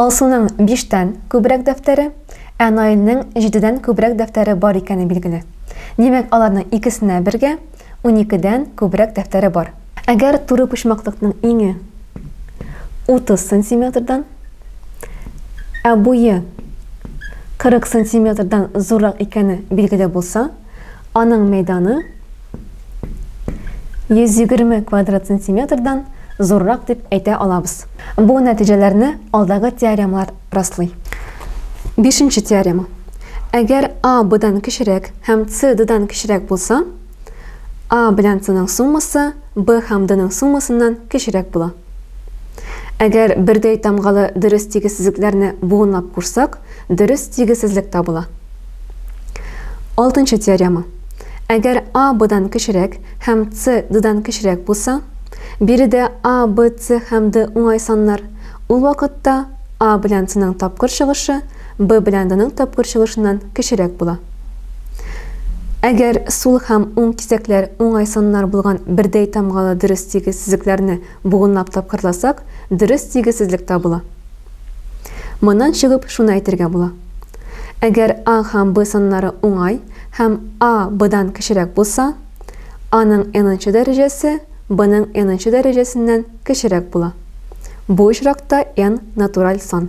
Алсуның биштән күбрәк дәфтәре, ә Наилнең җидедән күбрәк дәфтәре бар икәне билгеле. Димәк, аларның икесенә бергә уникедән күбрәк дәфтәре бар. Әгәр туры почмаклыкның иңе 30 сантиметрдан, ә буе 40 сантиметрдан зуррак икәне билгеле булса, Аның мәйданы 120 квадрат сантиметрдан зуррак дип әйтә алабыз. Бу нәтиҗәләрне алдагы теоремалар раслый. Бишенче теорема. Әгәр А Б-дан кечерәк һәм С Д-дан кечерәк булса, А белән С-ның суммасы Б һәм Д-ның суммасыннан кечерәк була. Әгәр бердәй тамгалы дөрес тигезсезлекләрне буынлап кушсак, дөрес тигезсезлек табыла. Алтынчы теорема. Әгәр А Б-дан кечерәк һәм С Д-дан кечерәк булса, биредә А, Б, С һәм Д уңай саннар, ул вакытта А белән С-ның тапкыр чыгышы Б белән Д-ның тапкыр чыгышыннан кечерәк була. Әгәр сул һәм уң кисәкләр уңай саннар булган бердәй тамгалы дөрес тигез сызыкларны Буынлап тапкырласак, дөрес тигезсезлек табыла. Моннан чыгып, шуны әйтергә була. Әгәр А һәм Б саннары уңай һәм А Бдан кечерәк булса, Аның n-нчы дәрәҗәсе Бның n-нчы дәрәҗәсеннән кечерәк була. Бу очракта n, натураль сан.